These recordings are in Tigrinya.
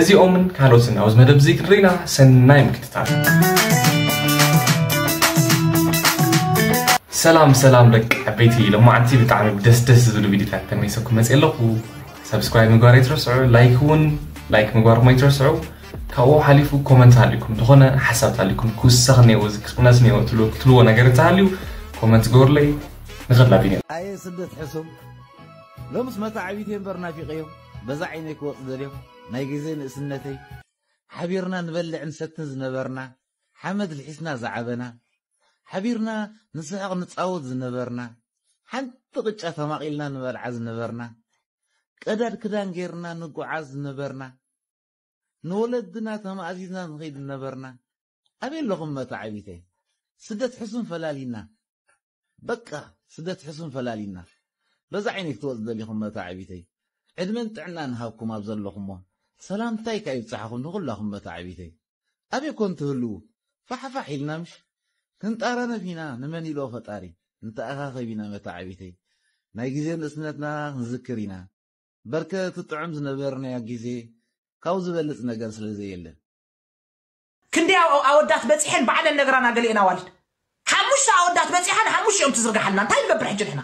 እዚኦምን ካልኦትን ኣብዚ መደብ እዚ ክንርኢና ሰናይ ምክትታል ሰላም ሰላም ደቂ ዓበይቲ ሎማዓንቲ ብጣዕሚ ደስ ደስ ዝብሉ ቪዲዮታት ተመይሰኩም መፅእ ኣለኹ ሰብስክራይብ ምግባር ኣይትረስዑ ላይክ እውን ላይክ ምግባርኩም ኣይትረስዑ ካብኡ ሓሊፉ ኮመንት ሃልዩኩም ዝኾነ ሓሳብ ተሃልዩኩም ክውሰኽ እኒኦ እዚ ክቕነስ እኒኦ ትብልዎ ነገር እንተሃልዩ ኮመንት ግበሩለይ ንኸላ ቢንያም ኣየ ስደት ሕሱም ሎምስ መታዓቢተይ እምበር ናፊቐዮም በዛ ዓይነይ ክወፅ ደልዮም ናይ ግዜ ንእስነተይ ሓቢርና ንበልዕ ንሰትን ዝነበርና ሓመድ ልሒስና ዝዓበና ሓቢርና ንስሕቕ ንፃወት ዝነበርና ሓንቲ ቅጫ ተማቒልና ንበልዓ ዝነበርና ቀዳድ ክዳን ገይርና ንጓዓዝ ዝነበርና ንወለድና ተማእዚዝና ንኺድ ዝነበርና ኣበይ ኣለኹም መታዓቢተይ ስደት ሕሱም ፈላሊና በቃ ስደት ሕሱም ፈላሊና በዛ ዓይነይ ክትወጽ ደሊኹም መታዓቢተይ ዕድመን ጥዕናን ሃብኩም ኣብ ዘለኹሞ ሰላምታይ ከኣ ይብጻሕኹም ንኹላኹም መታዓቢተይ ኣበይ ኮን ትህልዉ ፋሕፋሕ ኢልና ምሽ ክንጣራነፍ ኢና ንመን ኢሎ ፈጣሪ ንተኣኻኸብ ኢና መታዓቢተይ ናይ ግዜ ንእስነትና ክንዝክር ኢና በርከ ትጥዕም ዝነበርናያ ግዜ ካብኡ ዝበልጽ ነገር ስለ ዘየለ። ክንደይ ኣወዳት በጺሐን ባዕለን ነግራና ገሊኤን ኣዋልድ። ሓሙሽተ ኣወዳት በጺሓ ንሓሙሽቲኦም ትዝርግሓልና እንታይ ንገብር ሕጂ ንሕና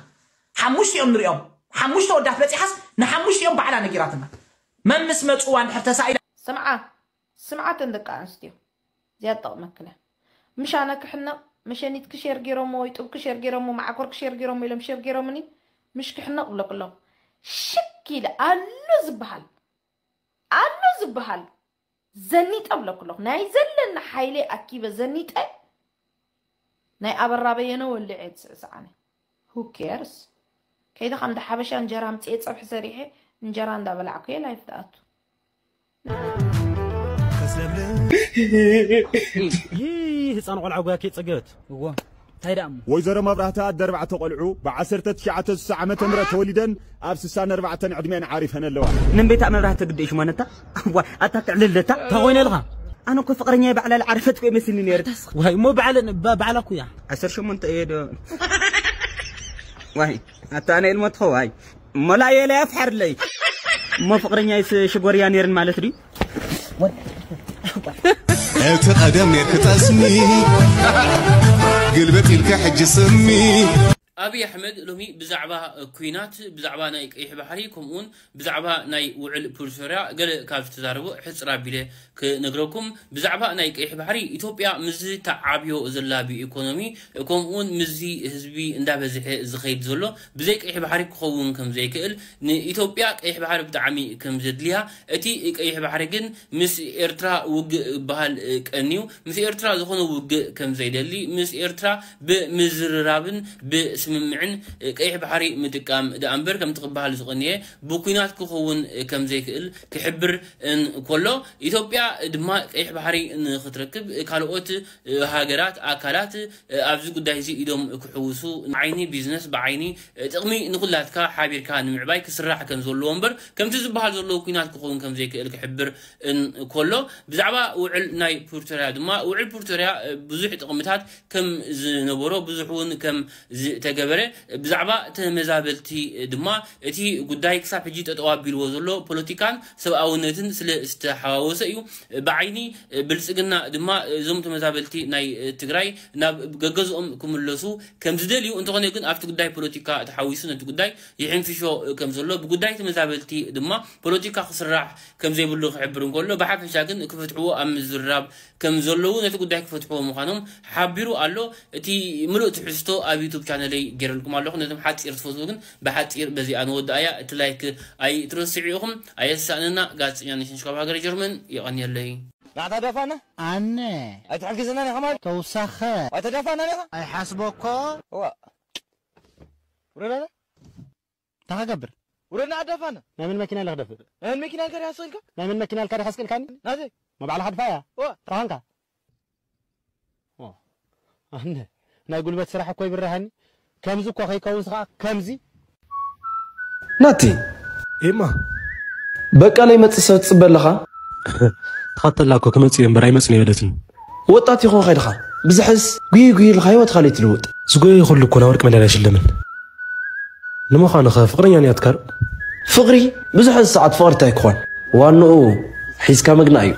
ሓሙሽቲኦም ንሪኦም ሓሙሽተ ኣወዳት በጺሓስ ንሓሙሽቲኦም ባዕላ ነጊራትና መምስ መጽዋ እንድሕር ተሳኢላ ስምዓ ስምዓ ተን ደቂ ኣንስትዮ እዚኣ ትጠቅመክን እያ ምሽ ኣነ ክሕነቅ መሸኒትኪ ሸር ጌሮሞ ወይ ጡብኪ ሸር ጌሮሞ ማዓኮርኪ ሸር ጌሮሞ ኢሎም ሸር ጌሮምኒ ምሽ ክሕነቅ እብለኪ ኣለኩ ሽክ ኢለ ኣሎ ዝብሃል ኣሎ ዝብሃል ዘኒጠ እብለኪ ኣለኩ ናይ ዘለኒ ሓይለይ ኣኪበ ዘኒጠ ናይ ኣበራ በየነ ወሊዐ እየ ዝስዕስዕ ኣነ who cares ከይደ ካብ እንዳ ሓበሻ እንጀራ ኣምፅኤ ፀብሒ ሰሪሐ እንጀራ እንዳበላዕኩ እየ ላይፍ ዝኣቱ ህፃን ቆልዓ ጉያ ከይፀገበት እዎ እንታይ ደኣ እሞ ወይዘሮ መብራህቲ ኣደ ኣርባዕተ ቆልዑ ብዓሰርተ ትሽዓተ ስሳ ዓመተ ምህረት ተወሊደን ኣብ ስሳን ኣርባዕተን ዕድሜኣን ዓሪፈን ኣለዋ ምን ቤታ መብራህቲ ግደይ ሽማ ነታ እዋ ኣታ ትዕልለታ እንታይ ኮይነ ኣለኻ ኣነ እኮ ፍቅረኛ ባዕላ ዝዓረፈት እኮ ይመስልኒ ነይሩ ዋይ እሞ ባዕለ ባዕላ እኮ እያ ዓሰርተ ሸሞንተ እየ ዶ ዋይ ኣታ ኣነ ኢልሞ ትኸዋይ እሞ ላየ ላይ ኣፍሓርለይ እሞ ፍቅረኛይስ ሽጎርያ ነይርን ማለት ድዩ እቲ ቀደም ኔርክ ጠስሚ ግልበጥ ኢልካ ሕጂ ስሚ ኣብይ ኣሕመድ ሎሚ ብዛዕባ ኩናት ብዛዕባ ናይ ቀይሕ ባሕሪ ከምኡውን ብዛዕባ ናይ ውዕል ፕሪቶርያ ገለ ካብ ዝተዛረቦ ሕጽር ኣቢለ ክነግረኩም፣ ብዛዕባ ናይ ቀይሕ ባሕሪ ኢትዮጵያ ምስዚ ትዓብዮ ዘላ ብኢኮኖሚ ከምኡውን ምስዚ ህዝቢ እንዳበዝሐ ዝኸይድ ዘሎ ብዘይ ቀይሕ ባሕሪ ክኸውን ከምዘይክእል ንኢትዮጵያ ቀይሕ ባሕሪ ብጣዕሚ ከምዘድልያ እቲ ቀይሕ ባሕሪ ግን ምስ ኤርትራ ውግእ ባሃል ቀንዩ ምስ ኤርትራ ዝኾነ ውግእ ከምዘይደሊ ምስ ኤርትራ ብምዝርራብን ብስምምዕን ቀይሕ ባሕሪ ምጥቃም ደኣ እምበር ከምቲ ክበሃል ዝቐንየ ብኲናት ክኽውን ከም ዘይክእል ክሕብር እንከሎ፣ ኢትዮጵያ ድማ ቀይሕ ባሕሪ ንኽትረክብ ካልኦት ሃገራት፣ ኣካላት ኣብዚ ጉዳይ'ዚ ኢዶም ክሕውሱ፣ ዓይኒ ቢዝነስ ብዓይኒ ጥቕሚ ንኹላትካ ሓቢርካ ንምዕባይ ክስራሕ ከም ዘለዎ እምበር ከምቲ ዝበሃል ዘሎ ኲናት ክኸውን ከም ዘይክእል ክሕብር እንከሎ፣ ብዛዕባ ውዕል ናይ ፕሪቶርያ ድማ ውዕል ፕሪቶርያ ብዙሕ ጥቕምታት ከም ዝነበሮ ብዙሕ እውን ከም ዝተገበረ ብዛዕባ ተመዛበልቲ ድማ እቲ ጉዳይ ክሳብ ሕጂ ጠጠው ኣቢልዎ ዘሎ ፖለቲካን ሰብኣውነትን ስለ ዝተሓዋወሰ እዩ ብዓይኒ ብልፅግና ድማ እዞም ተመዛበልቲ ናይ ትግራይ ናብ ገገዝኦም ክምለሱ ከም ዝደልዩ እንተኾነ ግን ኣብቲ ጉዳይ ፖለቲካ ተሓዊሱ ነቲ ጉዳይ ይሕንፍሾ ከም ዘሎ ብጉዳይ ተመዛበልቲ ድማ ፖለቲካ ክስራሕ ከም ዘይብሉ ክሕብር እንከሎ ብሓፈሻ ግን ክፈትሕዎ ኣብ ምዝርራብ ከም ዘለዉ ነቲ ጉዳይ ክፈትሕዎ ምዃኖም ሓቢሩ ኣሎ። እቲ ምሉእ ትሕዝቶ ኣብ ዩቱብ ቻነለይ ጌረልኩም ኣለኹ። ነቶም ሓጺር ትፈትዉ ግን ብሓጺር በዚኣ ንወድኣያ። እቲ ላይክ ኣይትረስዑ ኢኹም። ኣየሳእነና ጋዜጠኛ ነሽነሽ ካብ ሃገረ ጀርመን። የቐንየለይ። ናዕታ ዳፋና። ኣነ። ኣይትሕግዝናን ኢኻ ማለት። ተውሳኸ። ኣይተዳፋእናን ኢኻ። ኣይሓስቦኮ። እዋእ። ውረድ ኣነ። እንታይ ክገብር? ውረድ ንኣዳ ፋና። ናይ መን መኪና ኢለ ክደፍእ? ናይ መን መኪና ኢልካ ዲኻ ስቕ ኢልካ? ናይ መን መኪና ኢልካ ዲኻ ስቕ ኢልካኒ? ናተይ። ናይ በዓል ሃድፋያ? እወ። እንታይ ኳንካ? ኣነ ናይ ጉልበት ስራሕ እኮ ይብርሃኒ ከምዚ እኮ ከይከውንስ ከኣ ከምዚ ናቲ ኤማ በቃ ለይመጽእ ሰብ ትጽበ ኣለኻ? ተኸተላ እኮ ክመጽእ እየ እምበር ኣይመጽን እየ በለትኒ። ወጣት ይኾ ከድኻ ብዝሕስ ጉይ ጉይ ኢልካ ህይወትካ ለይ ትልውጥ ዝጎየ ይኹሉ እኮ ናወርቂ መዳልያ ኣይሽለምን ንምዃኑኸ ፍቅረኛ ንያትካር ፍቅሪ ብዙሕ ሰዓት ፍቅሪ እንታይ ክኾን ዋንኡ ሒዝካ ምግናእ እዩ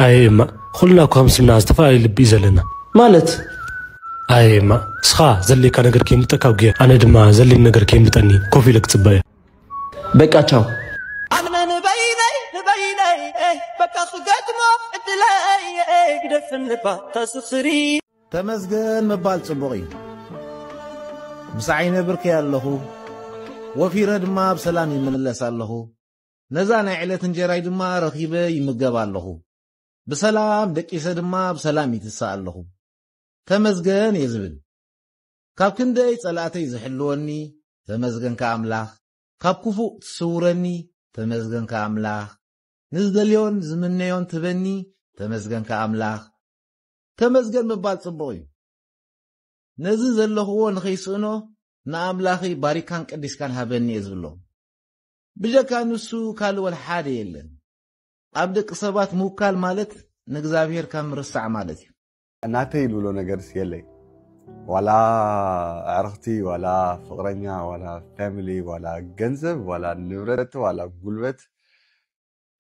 ኣየ እማ ኩልና እኮ ከም ስምና ዝተፈላለዩ ልቢ እዩ ዘለና ማለት ኣየ እማ እስኻ ዘድልየካ ነገር ከይምልጠካ ጉየ ኣነ ድማ ዘድልየኒ ነገር ከይምልጠኒ ኮፍ ኢለ ክፅበ እየ። በቃ ቻው። ተመስገን ምባል ጽቡቕ እዩ። ምስ ዓይነ ብርከይ ኣለኹ፣ ወፊረ ድማ ብሰላም ይምለስ ኣለኹ። ነዛ ናይ ዕለት እንጀራይ ድማ ረኺበ ይምገብ ኣለኹ። ብሰላም ደቂሰ ድማ ብሰላም ይትሳእ ኣለኹ። ተመስገን እየ ዝብል። ካብ ክንደይ ጸላእተይ ዝሕልወኒ ተመስገንካ ኣምላኽ ካብ ኩፉእ ትስውረኒ ተመስገንካ ኣምላኽ ንዝደልዮን ዝምነዮን ትበኒ ተመስገንካ ኣምላኽ ተመስገን ምባል ጽቡቕ እዩ ነዚ ዘለኽዎ ንኸይስእኖ ንኣምላኽይ ባሪካን ቀዲስካን ሃበኒ እየ ዝብሎ ብጀካ ንሱ ካልእ ወላ ሓደ የለን ኣብ ደቂ ሰባት ምውካል ማለት ንእግዚኣብሄር ካብ ምርሳዕ ማለት እዩ ናተይ ልብሎ ነገርስ የለይ ዋላ ኣዕርኽቲ ዋላ ፍቕረኛ ዋላ ፋሚሊ ዋላ ገንዘብ ዋላ ንብረት ዋላ ጉልበት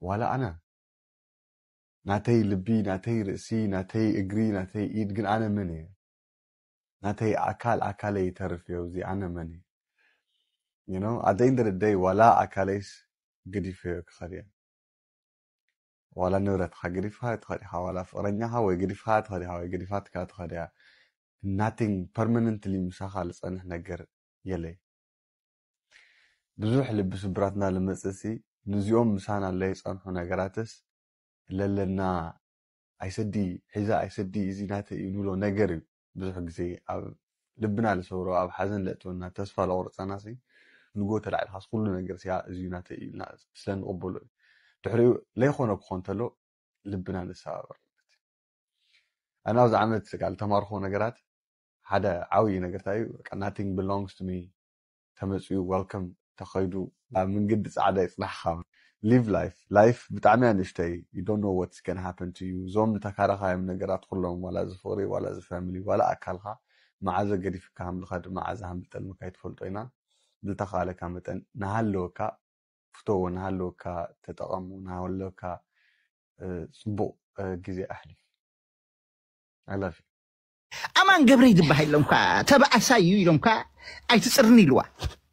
ዋላ ኣነ ናተይ ልቢ ናተይ ርእሲ ናተይ እግሪ ናተይ ኢድ ግን ኣነ መን እየ ናተይ ኣካል ኣካለይ ይተርፍ እዮ እዚ ኣነ መን እየ you know ኣደይ እንደደደይ ዋላ ኣካለይስ ገዲፈዮ ክኸድ እየ ዋላ ንብረትካ ገዲፍካ ትከድ ኢካ ዋላ ፍቅረኛካ ወይ ገዲፍካ ትከድ ኢካ ወይ ገዲፋትካ ትከድ ኢያ nothing permanently ምሳካ ልጸንሕ ነገር የለይ ብዙሕ ልቢ ስብራት እና ልመጽእ ሲ ንዚኦም ምሳና ለይጸንሑ ነገራትስ ለለና ኣይሰዲ ሒዛ ኣይሰዲ እዚ ናተይ እዩ ንብሎ ነገር እዩ ብዙሕ ግዜ ኣብ ልብና ልሰብሮ ኣብ ሓዘን ለእትወና ተስፋ ለቑርጸናሲ ንግሆ ተላዒልካስ ኩሉ ነገርሲ ያእ እዚዩ ናተይ ኢልና ስለ ንቕበሎ እዩ ድሕሪኡ ለይኾኖ ክኾን ተሎ ልብና ንሰባበር ኣነ ኣብዚ ዓመት ቃል ተማርኾ ነገራት ሓደ ዓብዪ ነገር እንታይ እዩ ናቲንግ ብሎንግስ ቱ ሚ ተመጽዩ ዋልከም ተኸይዱ ኣብ ምንግዲ ጻዕዳ ይጽናሕኻ Live life ላይፍ ብጣዕሚ እያ ንእሽተይ you don't know what's gonna happen to you እዞም ንተካረኻዮም ነገራት ኹሎም ዋላ እዚ ፍቕሪ ዋላ እዚ family ዋላ ኣካልኻ መዓዘ ገዲፍካ ሃምልኻ ድማ ዓዘ ሃምብጠልምካ ኣይትፈልጦ ኢና ብልተኻእለካ መጠን ንሃለወካ ፍተዎ ንሃለወካ ተጠቐሙ ንሃለወካ ጽቡቕ ግዜ ኣሕልፍ I love you ኣማን ገብረይ ዝበሃል ኢሎም እኳ ተባእሳይ እዩ ኢሎም እኳ ኣይትፅርኒ ኢልዋ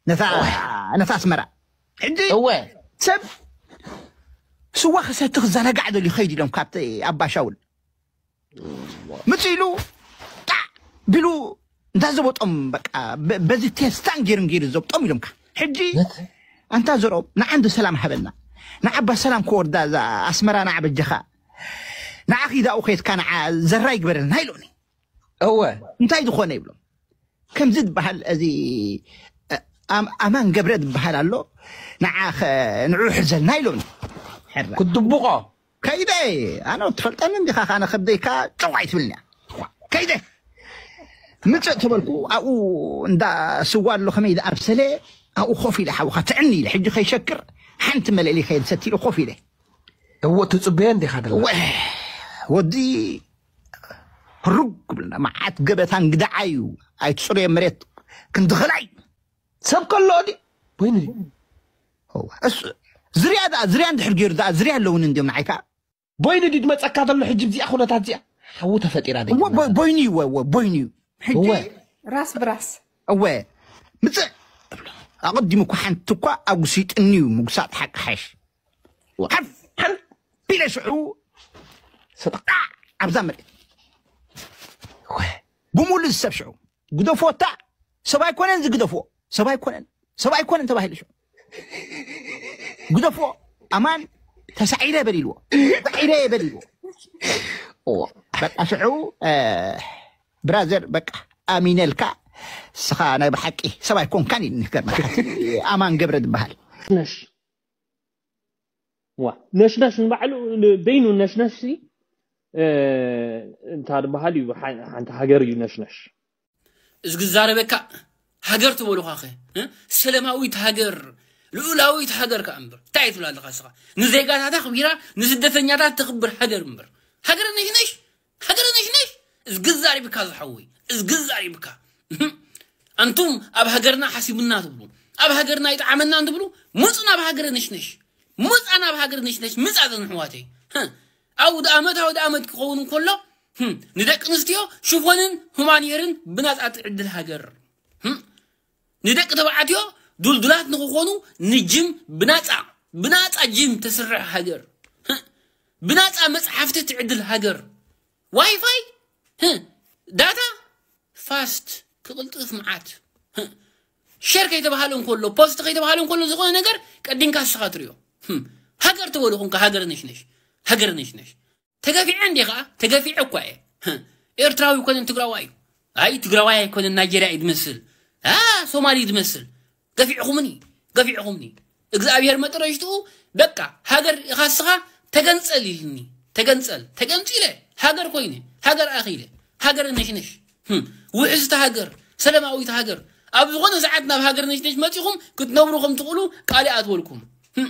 ነታ ነታ ኣስመራ ሕጂ እወ ሰብ ስዋ ክሰቲ ክዘናጋዕ ደልዩ ከይድ ኢሎም ካብቲ ኣባሻውል ምፅ ኢሉ ጣዕ ቢሉ እንዳዘበጦም በቃ በ- በዚ ቴስታን ጌርን ጌሩ ዘብጦም ኢሎምካ ሕጂ ነት ኣንታ ዘርኦም ንዓንዲ ሰላም ሃበና ንዓባ ሰላም ክወርዳ እዛ ኣስመራ ንዓበጀኻ ንዓኺ ዳኡ ኬትካ ንዓ ዘራ ይግበረልና ኢሎኒ እወ እንታይ ዝኾነ ይብሎም ከምዚ ዝበሃል እዚ ኣማን ገብረ ዝበሃል ኣሎ ንዓ ንዑ ሕዘልና ኢሎኒ ክትድብቆ ከይደ ኣነ ትፈልጠኒ እንዲኻ ካነ ከብደይካ ጨው ኣይትብልኒ ከይደ ምፅእ ተበልኩ ኣብኡ እንዳ ስዋ ኣሎ ከመይ ዳኣ ብሰለ ኣብኡ ኮፍ ኢለ ሓውካ ትዕኒ ኢለ ሕጂ ከይሸክር ሓንቲ መለሊ ከየድሰቲ ኢለ ኮፍ ኢለ እወ ትፅበየን ዲኻ ደላ እወ ወዲ ህሩግ ክብልና መዓት ገበታ እንግዳ ዓዩ ኣይትፅርየ መሬት ክንዲ ኸላይ ሰብ ከሎ ዲ ወይኒ ዝርያ ደኣ ዝርያ እንድሕር ገይሩ ደኣ ዝርያ ኣለውን እንዲዮም ንዓይ ከዓ ቦይኒ ድዩ ድመፀካ ዘሎ ሕጂ ብዚኣ ኩነታት እዚኣ ሓዊ ተፈጢራ ደ ቦይኒ እዩ ወ ቦይኒ እዩ ሕጂ ራስ ብራስ እወ ምፅእ ኣቐዲሙ እኳ ሓንቲ እኳ ኣጉሲጥኒ እዩ ምጉሳጥ ሓቂ ሓሽ ወዓፍ ሓንቢለ ሽዑ ሰጠቃዕ ኣብዛ መሬት ብሙሉ ዝሰብ ሽዑ ግደፍዎ እታ ሰብ ኣይኮነን ዝግደፍዎ ሰብ ኣይኮነን ሰብ ኣይኮነን ተባሂሉ ሽዑ ግደፍዎ ኣማን ተሳዒረ በሊልዎ ተሳዒረ በሊልዎ በቃ ሽዑ ብራዘር በቃ ኣሚነልካ ስኻ ናይ ብሓቂ ሰብ ኣይኮንካን እዩ ንገርመካ ኣማን ገብረ ዝበሃል ነሽ ዋ ነሽነሽ ንባዕሉ በይኑ ነሽነሽ ሲ እንታይ ዝበሃል እዩ ሓንቲ ሃገር እዩ ነሽነሽ እዚ ክዛረበካ ሃገር ትበሉኻ ኸ ሰለማዊት ሃገር ልኡላዊት ሃገር ከዓ እምበር እንታይ ትብላ ኣለኻ ስኻ ንዜጋታታ ኣኽቢራ ንስደተኛታት ተኽብር ሃገር እምበር ሃገር ነሽነሽ ሃገረ ነሽነሽ እዝጊ ዛሪብካ ዝሓወይ እዝጊ ዛሪብካ ኣንቱም ኣብ ሃገርና ሓሲቡና ትብሉ ኣብ ሃገርና ይጥዓመናን ትብሉ ምፁ ናብ ሃገረ ነሽነሽ ምፃ ናብ ሃገረ ነሽነሽ ምፃ ዘን ኣሕዋተይ ኣውድ ኣመት ኣውድ ኣመት ክኸውን እንከሎ ንደቂ ኣንስትዮ ሽፎንን ሁማንየርን ብናፃ ትዕድል ሃገር ንደቂ ተባዕትዮ ዱልዱላት ንክኾኑ ንጅም ብናፃ ብናፃ ጅም ተስርሕ ሃገር ብናፃ መፅሓፍቲ ትዕድል ሃገር ዋይፋይ ዳታ ፋስት ክቕልጥፍ መዓት ሸር ከይተባሃለ እንከሎ ፖስት ከይተባሃለ እንከሎ ዝኾነ ነገር ቀዲምካ ንስኻ ትሪኦ ሃገር ተበሉ ኮንካ ሃገር ነሽነሽ ሃገር ነሽነሽ ተገፊዐ እንዴ ከኣ ተገፊዐ እኳ እየ ህ፣ ኤርትራዊ ኣይኮነን ትግራዋይ እዩ ኣይ ትግራዋይ ኣይኮነን ናይጀርያ እዩ ዝመስል ኣ ሶማሊ እዩ ዝመስል ገፊዕኹምኒ ገፊዕኹምኒ እግዚኣብሔር መጠረሽትኡ በቃ ሃገር ኢኻ እስኻ ተገንጸል ኢልኒ ተገንጸል ተገንጺለ ሃገር ኮይነ ሃገር ኣኺለ ሃገር ነሽነሽ ህም፣ ውሕስቲ ሃገር ሰላማዊት ሃገር ኣብ ዝኾነ ሰዓት ናብ ሃገር ነሽነሽ መጺኹም ክትነብሩ ከም ትኽእሉ ቃል ይኣትወልኩም ህም፣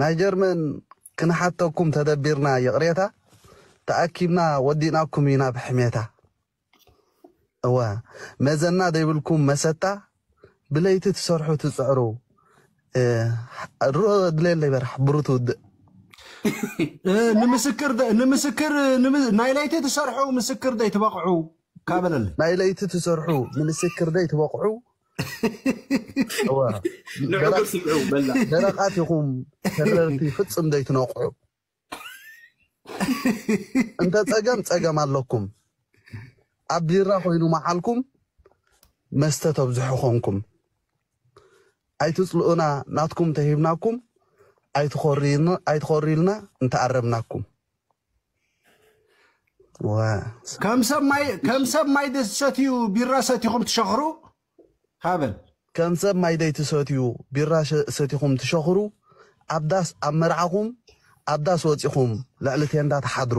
ናይ ጀርመን ክንሓተኩም ተደቢርና ይቅሬታ ተኣኪብና ወዲእናኩም ኢና ብሕሜታ እወ መዘና ዘይብልኩም መሰታ ብለይቲ ትሰርሑ ትጽዕሩ ድሮ ድሌለይ በራሕ ብሩ ትውድእ ንምስክር ንምስክር ናይ ለይቲ ትሰርሑ ምስክር ደይ ትበቕዑ ካበለለ ናይ ለይቲ ትሰርሑ ንምስክር ደይ ትበቕዑ ንዕጉር ስምዑ በላ ደረቃት ይኹም ተረርቲ ፍፅም ዘይትነቕዑ እንተ ፀገም ፀገም ኣለኩም ኣብ ቢራ ኮይኑ መዓልኩም መስተ ተብዝሑ ኮንኩም ኣይትፅልኡና ናትኩም ተሂብናኩም ኣይትኾርይልና እንተኣረምናኩም ከም ሰብ ማይ ከም ሰብ ማይ ደሰትዩ ቢራ ሰቲኹም ትሸኽሩ ሃበን ከም ሰብ ማይ ደይትሰትዩ ቢራ ሰቲኹም ትሸኽሩ ኣብ ዳስ ኣብ መርዓኹም ኣብ ዳስ ወጺኹም ልዕሊ ቴንዳ ትሓድሩ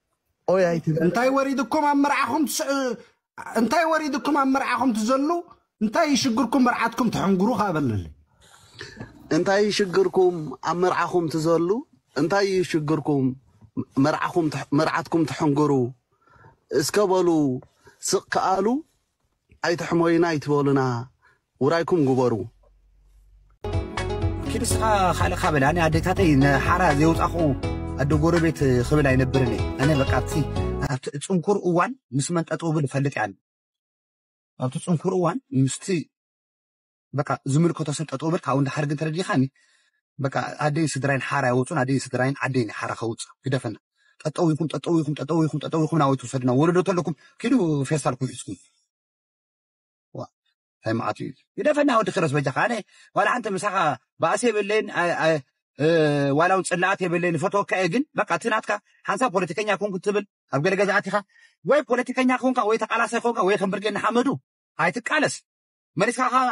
ኦይ ኣይትበል እንታይ ወሪድኩም ኣብ መርዓኹም ትስዕ እንታይ ወሪድኩም ኣብ መርዓኹም ትዘሉ እንታይ ይሽግርኩም መርዓትኩም ትሕንግሩ ከዓ በለለይ እንታይ ይሽግርኩም ኣብ መርዓኹም ትዘሉ እንታይ ይሽግርኩም መርዓኹም ትሕ- መርዓትኩም ትሕንግሩ እስከ በሉ ስቕ ከኣሉ ኣይትሕመዩና ኣይትበሉና ውራይኩም ግበሩ። ኪድ እስኻ ካልእ ካበል ኣነ ኣዴታተይ ንሓራ ዘየውጻኹ ኣደ ጎረቤት ክብል ኣይነብርን እየ ኣነ በቃ ኣብቲ ኣብቲ ጽንኩር እዋን ምስ መን ጠጠው ብል እፈልጥ እያ ኣብቲ ጽንኩር እዋን ምስቲ በቃ ዝምልከቶ ሰብ ጠጠው በል ካብኡ ንደሓር ግን ተረዲእኻኒ በቃ ኣደይን ስድራይን ሓራ ይወፁን ኣደይን ስድራይን ዓደይን እዩ ሓራ ከውፅእ ግደፈና ጠጠው ኢኹም ጠጠው ኢኹም ጠጠው ኢኹም ጠጠው ኢኹም ናበይ ትውሰድና ወለዶ ተለኩም ኪዱ ፌስታልኩም ሒዝኩም ዋ እንታይ መዓት እዩ ግደፈና ወዲ ክረስ በጃኻ ኣነ ዋላ ሓንቲ ምሳኻ ባእሲ የብለይን ኣይ- ኣይ- እ፣ ዋላ እውን ፅላኣት የብለይን ፈተወካ እየ ግን በቃ እቲ ናትካ ሓንሳብ ፖለቲከኛ ኮንኩ ትብል ኣብ ገለ ገዛእት ኢኻ ወይ ፖለቲከኛ ኮንካ ወይ ተቃላሳይ ኮንካ ወይ ከም ብርጌድ ንሓመዱ ኣይትቃለስ መሊስካ ከኣ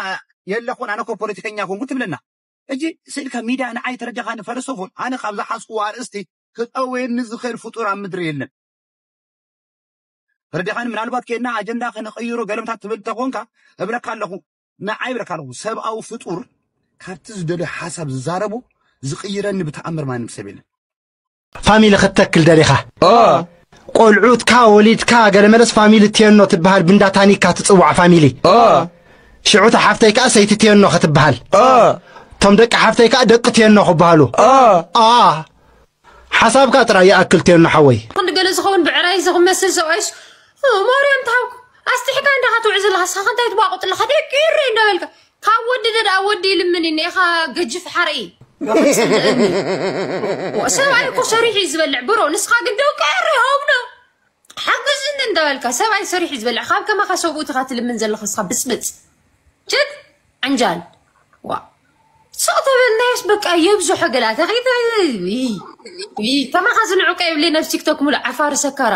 የለኹን ኣነ እኮ ፖለቲከኛ ኮንኩ ትብለና ሕጂ ስእልካ ሚድያ ንዓይ ተረዲኻኒ ፈለሰፎን ኣነ ካብ ዝሓዝኩዎ ኣርእስቲ ክጠውየኒ ዝኽእል ፍጡር ኣብ ምድሪ የለን ተረዲኻኒ ምናልባት ኬድና ኣጀንዳ ክንቕይሮ ገለምታት ትብል ተኾንካ እብለካ ኣለኹ ንዓይ እብለካ ኣለኹ ሰብኣዊ ፍጡር ካብቲ ዝደልዮ ሓሳብ ዝዛረቦ ዝቕይረኒ ብተኣምር ማንም ሰብ የለን ፋሚሊ ክትተክል ደሊኻ ቆልዑትካ ወሊድካ ገለ መለስ ፋሚሊ ቴኖ ትበሃል ብንዳ ታኒካ ትጽዋዕ ፋሚሊ ሽዑ እታ ሓፍተይ ከዓ ሰይቲ ቴኖ ክትበሃል እቶም ደቂ ሓፍተይ ከዓ ደቂ ቴኖ ክበሃሉ ሓሳብካ ጥራይ ይኣክል ቴኖ ሓወይ ክንዲ ገለ ዝኸውን ብዕራይ ዝመስል ሰብኣይስ ማርያም ትሃብኩ ኣስጢሕካ እንዳ ክትውዕ ዘለካ ሳኻ እንታይ ትቧቅጥ ኣለካ ደቂ እረይ እንዳበልካ ካብ ወዲ ደኣ ወዲ ይልምን እዩ ኔኻ ገጅፍ ሓርኢ ሰብኣይ እኮ ሰሪሑ እዩ ዝበልዕ ብሮ ንስኻ ግን ደው ቀሪ ሆብዶ ሓግዝኒ እንዳበልካ ሰብኣይ ሰሪሑ እዩ ዝበልዕ ካብ ከማኻ ሰብኡትኻ ትልምን ዘለኻ ስኻ ብፅብፅ ጀት ዕንጃል ዋ ሰው ተበልናያስ በቃ የብዙሐ ገላታ ከማኻ ዝንዑቀ የብለይ ናብ ቲክቶክ ሙሉእ ዓፋሪ ሰካራ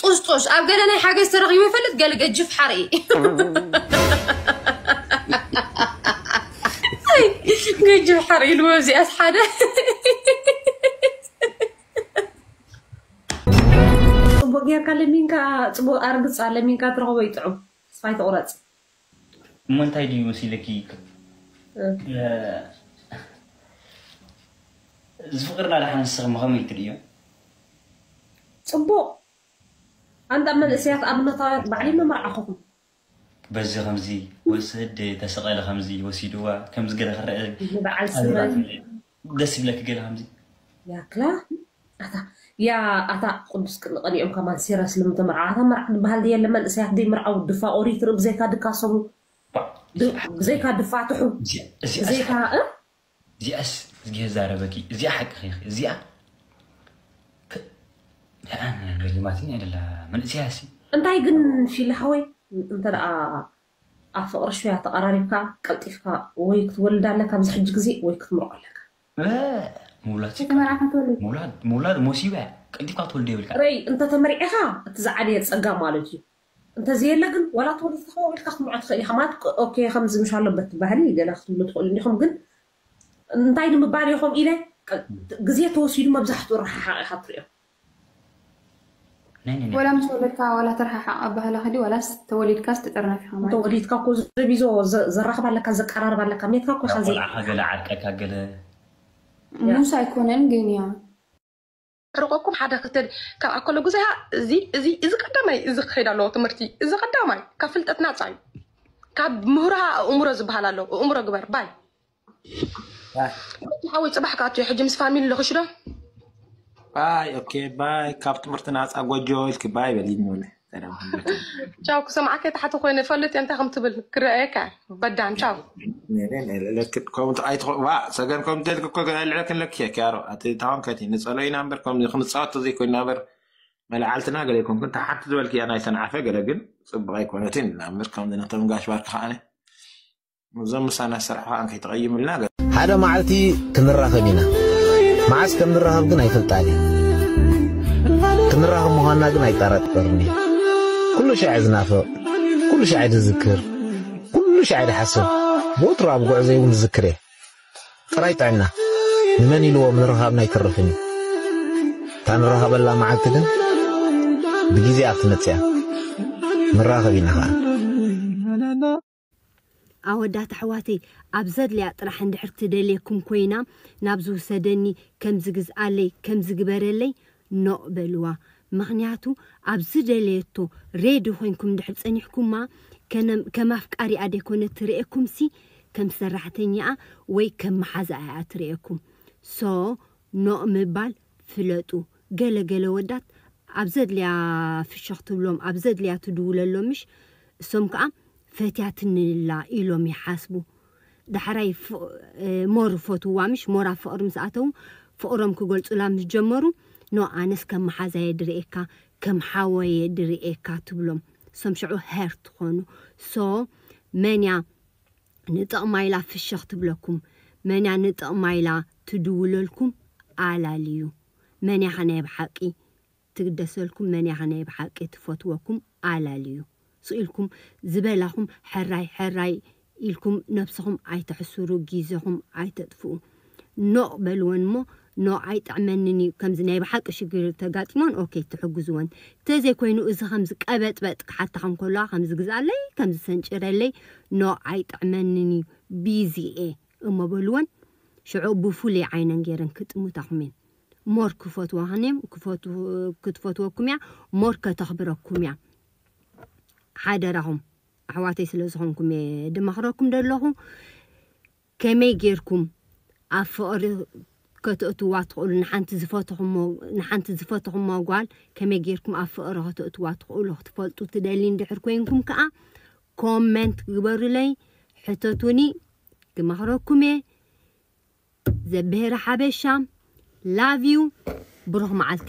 ጡሽጡሽ ኣብ ገለ ናይ ሓገዝ ተረኺቡ ይፈልጥ ገለ ገጅፍ ሓርኢ ገጅፍ ሓርኢ ኢልዎ እዚኣስ ሓደ ፅቡቅ ጌርካ ለሚንካ ፅቡቅ ኣርግፃ ለሚንካ ትረኽቦ ይጥዑም ተስፋ ኣይትቁረፅ እሞ እንታይ ድዩ መሲልኪ እዚ ፍቅርና ዳሓን ንስኪ ከመይ ትርእዮ። ጽቡቅ ኣንታ መንእሰያት ኣብነታውያን ባዕለይ መመርዓኹኩም። በዚ ከምዚ ወስድ ተሰቀለ ከምዚ ወሲድዋ ከምዚ ገለ ክረኣ ንበዓል ስመን ደስ ይብለኪ ገለ ከምዚ። ያክላ ኣታ ያ ኣታ ቅዱስ ቅንቐሊኦም ከማን ሲረስ ልምተ መርዓ ኣታ መርዓ ድበሃል ድየለ መንእሰያት ደይምርዓው ድፋ ኦሪት ትርኢ ብዘይካ ድካሰቡ ብዘይካ ድፋትሑ ብዘይካ እዚኣስ እዚኣ ዛረበኪ እዚኣ ሓቅኺ ኢኺ እዚኣ ንኣ ገሪማትኒ ኣደላ መንእሰያሲ እንታይ ግን ፊሊ ሓወይ እንተ ኣብ ፍቅሪ ሹያ ተቀራሪብካ ቀልጢፍካ ወይ ክትወልዳ ኣለካ ኣብዚ ሕጂ ግዜ ወይ ክትምርዖ ኣለካ። እእ ምውላድ ስቃይ ከይተመርዓካ ትወልድ። ምውላድ ምውላድ ሞሲባ እያ ቀልጢፍካ ክትወልዶ የብልካን። ረይ እንተ ተመርዒካ እቲ ዝዓበየ ጸጋ ማለት እዩ እንተ ዘየለ ግን ዋላ ተወሊድካ ከማኡ ኢልካ ክትምርዖ ትክእል ኢካ ማለት ኦኬ ከምዚ ምሽ ኣሎ በቲ ባህሊ ገለ ክትብሉ ትክእሉ እንዲኩም ግን እንታይ ንምባል ኢኩም ኢለ ግዜ ተወሲዱ መብዛሕትኡ ረሓሓቅ ኢካ ትሪኦ ወላ ምስ ወለድካ ወላ ተረሓሓቕ ኣባህላኺ ድዩ ዋላስ ተወሊድካስ ትጥርነፍ ኢኻ ማለት። ተወሊድካ እኮ ዘቢዞ ዘራኽብ ኣለካ ዘቀራርብ ኣለካ ሜትካ እኮ ኢኻ ዘይ። ቆልዓኻ ገለ ዓርቀካ ገለ። ሙሳ ኣይኮነን ግን ያው። ርቆኩም ሓደ ክልተ ካብ ኣኮሎ ጉዛይ ሃ እዚ እዚ እዚ ቀዳማይ እዚ ክከይድ ኣለዎ ትምህርቲ እዚ ቀዳማይ ካብ ፍልጠት ናጻ እዩ ካብ ምሁራ ኣእምሮ ዝበሃል ኣሎ እእምሮ ግበር ባይ ባይ እቲ ሓወይ ፅባሕ ክኣቱ እዩ ሕጂ ምስ ፋሚሊ ልኽሽ ዶ ባይ ኦኬ ባይ ካብ ትምህርቲ ናፃ ጎጆ ኢልኪ ባይ በሊ ንበለ ሰላም ሃለኪ ቻው ክሰምዓከ ታሕቲ ኮይነ ፈልጥ እየ እንታይ ከም ትብል ክረኣየካ በዳን ቻው ከምኡ ኣይትኸ- ዋ ሰገን ከምኡ እንተልኪ እኮ ልዕለኪ ኣለኪ እየ ክያሮ እቲ ታወንከቲ ንፀሎ ኢና እምበር ከምዚ ክንፃወት ተዘይኮይና እምበር መላዓልትና ገለ ይኮንኩን እታ ሓንቲ ዝበልክያ ናይ ሰንዓፈ ገለ ግን ፅቡቅ ኣይኮነትን ኢልና እምበር ከምዚ ነቶም ጋሽ ባርኪ ከዓነ እዞም ምሳና ዝሰርሑ ከኣ ከይተቐይምልና ገለ ሓደ መዓልቲ ክንራኸብ ኢና መዓስ ከም ንራኸብ ግን ኣይፈልጣን እየ ክንራኸብ ምዃንና ግን ኣይጠራጠርን እየ ኩሉ ሻዕ ዝናፍቕ ኩሉ ሻዕ ዝዝክር ኩሉ ሻዕ ዝሓስብ ወትሩ ኣብ ጉዕዘይ እውን ዝዝክር እየ ጥራይ ጥዕና ንመን ኢልዎ ምርኻብና ኣይተርፍን እዩ እታ ንራኸበላ መዓልቲ ግን ብግዜኣ ክትመጽእ እያ ንራኸብ ኢና ኸኣ ኣወዳት ኣሕዋተይ ኣብ ዘድልያ ጥራሕ እንድሕር ትደልየኩም ኮይና ናብዚ ውሰደኒ ከምዚ ግዝኣለይ ከምዚ ግበረለይ ኖእ በልዋ ምኽንያቱ ኣብ ዝደለየቶ ሬዲ ኮይንኩም እንድሕር ፀኒሕኩማ ከነም ከም ኣፍቃሪኣ ደይኮነት ትርእየኩምሲ ከም ሰራሕተኛኣ ወይ ከም መሓዛኣ እያ ትርእየኩም ሶ ኖእ ምባል ፍለጡ ገለ ገለ ወዳት ኣብ ዘድልያ ፍሽኽ ትብሎም ኣብ ዘድልያ ትድውለሎም ምሽ እሶም ከኣ ፈትያትኒ እላ ኢሎም ይሓስቡ ዳሕራይ ሞር ፈትውዋ ምሽ ሞር ኣብ ፍቕሪ ምስ ኣተዉ ፍቕሮም ክገልጹላ ምስ ጀመሩ ኖ ኣነስ ከም መሓዛየ ድርእየካ ከም ሓወየ ድርእየካ ትብሎም እሶም ሸዑ ሀርት ኾኑ ሶ መን እያ ንጥቕማ ኢላ ፍሽኽ ትብለኩም መንያ ንጥቕማ ኢላ ትድውለልኩም ኣላልዩ መንያኸ ናይ ብሓቒ ትግደሰልኩም መንያኸ ናይ ብሓቒ ትፈትወኩም ኣላልዩ ስኢልኩም ዝበላኹም ሕራይ ሕራይ ኢልኩም ነብስኹም ኣይተሕስሩ ጊዘኹም ኣይተጥፍኡ ኖእ በልወን እሞ ኖእ ኣይጥዕመንን እዩ ከምዚ ናይ ብሓቂ ሽግር ተጋጢሞን ኦኬ ትሕግዝወን ተዘይ ኮይኑ እዚ ከምዚ ቀበጥበጥ ክሓታካ እንከለዋ ከምዚ ግዝኣለይ ከምዚ ሰንጭረለይ ኖእ ኣይጥዕመንን እዩ ቢዚ እየ እሞ በልወን ሽዑ ብፉሉይ ዓይነን ገይረን ክጥምታኩም እየን ሞር ክፈትዋክን እየም ክትፈትወኩም እያ ሞር ከተክብረኩም እያ ሓደራኹም ኣሕዋተይ ስለ ዝኾንኩም እየ ድመኽረኩም ደለኹ ከመይ ጌርኩም ኣብ ፍቕሪ ከተእትዋ ትኽእሉ? ንሓንቲ ዝፈተኹሞ ንሓንቲ ዝፈተኹማ ጓል ከመይ ጌርኩም ኣብ ፍቕሪ ከተእትዋ ትኽእሉ ክትፈልጡ ትደልዩ እንድሕር ኮይንኩም ከኣ ኮመንት ግበሩለይ ሕተቱኒ ክመኽረኩም እየ ዘብሄረ ሓበሻ ላቭ ዩ ብሩኽ መዓልቲ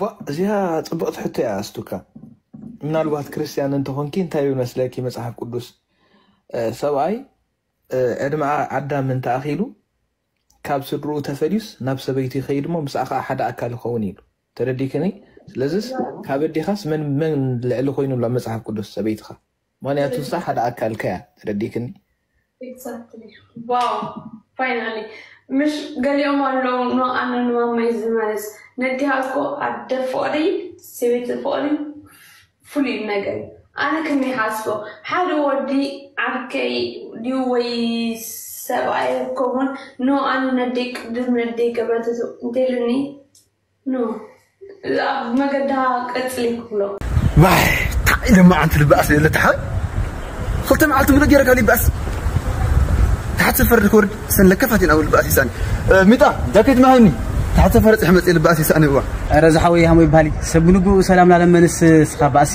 ባእ እዚኣ ጽብቕቲ ሕቶ እያ ኣስቱካ ምናልባት ክርስትያን እንተኾንኪ እንታይ ይብል መስለኪ መጽሓፍ ቅዱስ ሰብኣይ ዕድመ ኣዳም እንተኣኺሉ ካብ ስድርኡ ተፈልዩስ ናብ ሰበይቱ ይኸይድ እሞ ምስኣ ከዓ ሓደ ኣካል ይኸውን ኢሉ ተረዲክኒ ስለዚስ ካብ ኣዴኻስ መን መን ልዕሊ ኮይኑሎ መጽሓፍ ቅዱስ ሰበይትኻ ምክንያቱ እሳ ሓደ ኣካልካ እያ ተረዲክኒ። Exactly ዋው ፋይናሊ ምሽ ገሊኦም ኣለው ን ኣነ ን ማማይ ዝመልስ ነዲኣ እኮ ኣደ ፍቅሪ ሰበይቲ ፍቅሪ ፍሉይ ነገር እዩ ኣነ ከም ይሓስቦ ሓደ ወዲ ዓርከይ ድዩ ወይ ሰብኣይ ኮሙን ን ኣነ ነደይ ቅድም ነደይ ገበትቱ እንተይሉኒ ን ኣብ መገዳ ቀጽሊ ክብሎ። ዋይ ታይ ኢለ መዓንቲ ልበኣስ ዘየለ ተሓበን ክልተ መዓልቲ ሙሉእ ገይረ ካሊእ ይበኣስ ታሕቲ ሰፈር ክወርድ ሰን ለከፋት ኢና ልበኣስ ይሳኒ ሚጣ ጃኬት መሃኒ ታሕቲ ሰፈር ጽሕ መጽ ልበኣስ ይሳኒ እዋ ኣረ ዝሓወይ ሃሞ ይበሃሊ ሰብ ብንግኡ ሰላም ላለመንስ ስኻ ባእሲ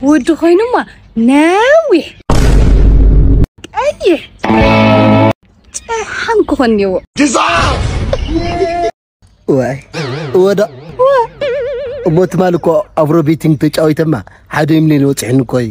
ውድ ኮይኑማ ነዊሕ ቀይሕ ጨሓም ክኾን እኒዎ ዋይ ወዳ እሞ ትማል እኮ ኣፍሮ ቤቲንግ ተጫዊተማ ሓደ ሚሊዮን ወፅሕኒ እኮ እዩ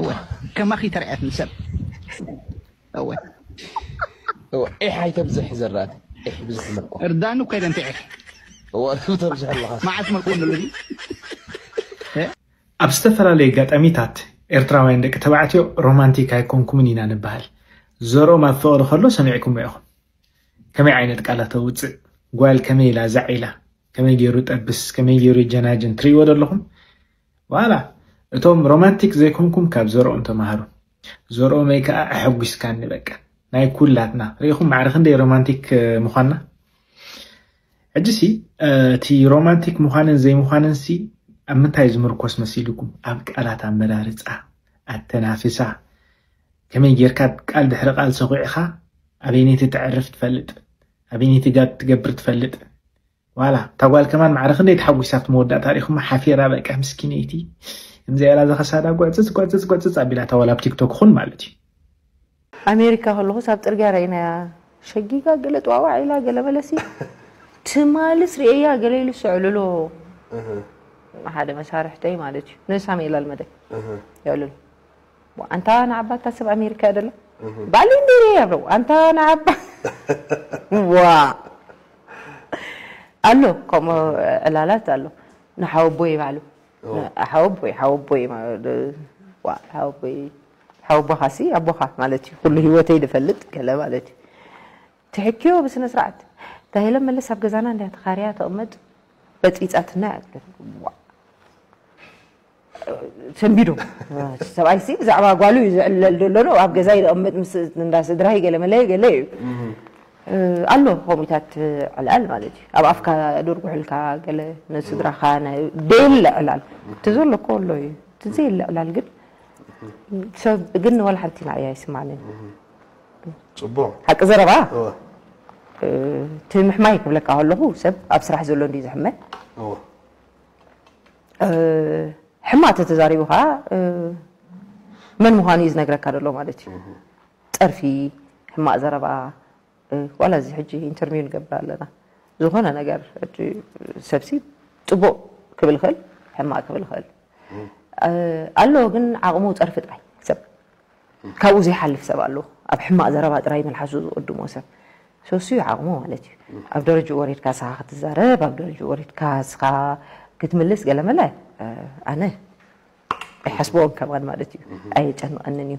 እወ ከማኺ ተራእያትኒ ሰብ እወ እወ ዒሕ ኣይተብዝሕ ዘራእቲ ዒሕ ብዙሕ መልኩ እርዳኑ ከይደ እንተ ዒሕ እወ ተብዝሕ ኣለኻ መዓስ መልኩ ንሉ ኣብ ዝተፈላለየ ኣጋጣሚታት ኤርትራውያን ደቂ ተባዕትዮ ሮማንቲክ ኣይኮንኩምን ኢና ንበሃል። ዘርኦም ኣብ ፍቕሪ ከሎ ሰሚዕኩሞ ኢኹም። ከመይ ዓይነት ቃላት ኣውጽእ፣ ጓል ከመይ ኢላ ዛዕ ኢላ፣ ከመይ ገይሩ ጠብስ፣ ከመይ ገይሩ የጀናጅን ትርእይዎ ዶ ኣለኹም? ዋላ እቶም ሮማንቲክ ዘይኮንኩም ካብ ዘርኦም ተማሃሩ ዘርኦመይ ከኣ ኣሐጒስካኒ በቃ ናይ ኩላትና ርኢኹም ማዕረ ክንደይ ሮማንቲክ ምዃንና ሕጂሲ እቲ ሮማንቲክ ምዃንን ዘይምዃንንሲ ኣብ ምንታይ ዝምርኮስ መሲልኩም ኣብ ቃላት ኣመራርፃ ኣተናፍሳ ከመይ ጌርካ ቃል ድሕሪ ቃል ሰኺዕኻ ኣበይነይቲ ተዕርፍ ትፈልጥ ኣበይነይቲ ጋብ ትገብር ትፈልጥ ዋላ እታ ጓል ከማን ማዕረ ክንደይ ተሓጒሳ ኣብቲ መወዳእታ ሪኹማ ሓፊራ በቃ ምስኪነይቲ እምዚኣ ኢላ ዘኸሳዳ ጉዕጽጽ ጉዕጽጽ ጉዕጽጽ ኣቢላታ ዋላ ኣብ ቲክቶክ ኹን ማለት እዩ ኣሜሪካ ከለኹስ ኣብ ጽርግያ ረኢናያ ሸጊጋ ገለ ጥዋዋዕ ኢላ ገለ መለሲ ትማልስ ርእያ ገለ ኢሉ ስዕልሎ ሓደ መሳርሕተይ ማለት እዩ ንሳሜላ ልመደ የዕልሉ ኣንታ ንዓባ ኣታ ሰብ ኣሜሪካ እያ ደላ ባሊ እንዲሪ ያብረው ኣንታ ንዓባ ዋእ ኣሎ ከምኡ ዕላላት ኣሎ ንሓወቦይ ባዕሉ ሓወቦይ ሓወቦይ ሓወቦይ ሓወቦኻሲ ኣቦኻ ማለት እዩ ኩሉ ህይወተይ ዝፈልጥ ገለ ማለት እዩ ትሕኪዮ ብስነ ስርዓት ታሂለ መለስ ኣብ ገዛና እንዳ ተኻርያ ተቕመጥ በፂፃትና እያ ሰንቢዱ ሰብኣይ ሲ ብዛዕባ ጓሉ እዩ ዝዕለል ዘሎ ዶ ኣብ ገዛይ ዝቕምጥ ምስ እንዳ ስድራይ ገለመለ ገለ እዩ ኣሎ ከምኡታት ዕላል ማለት እዩ ኣብ ኣፍካ ድርጉሕልካ ገለ ንስድራኻ ደየለ ዕላል እቲ ዘሎ እኮ ኣሎ እዩ እቲ ዘየለ ዕላል ግን ሰብ ግን ወላ ሓንቲ ናእያ ይስማዕንን ፅቡቕ ሓቂ ዘረባ እቲ ምሕማይ ክብለካ ከለኹ ሰብ ኣብ ስራሕ ዘሎ እንዲ ዝሕመ ሕማቅ ተተዛሪቡ ከዓ መን ምዃኑ እዩ ዝነግረካ ዘሎ ማለት እዩ። ፀርፊ፣ ሕማቅ ዘረባ ዋላ እዚ ሕጂ ኢንተርሚው ንገብር ኣለና ዝኾነ ነገር ሰብሲ ፅቡቅ ክብል ይኽእል ሕማቅ ክብል ይኽእል ኣሎ ግን ዓቅሙ ፀርፊ ጥራይ ሰብ ካብኡ ዘይሓልፍ ሰብ ኣሎ ኣብ ሕማቅ ዘረባ ጥራይ መልሓሱ ዝቅድሞ ሰብ ሶሲ እዩ ዓቅሙ ማለት እዩ ኣብ ደረጅኡ ወሪድካ ንስኻ ክትዛረብ ኣብ ደረጅኡ ወሪድካ ንስኻ ክትምልስ ገለመለ ኣነ ኣይሓስበዎን ከማን ማለት እዩ ኣየጨንቀንን እዩ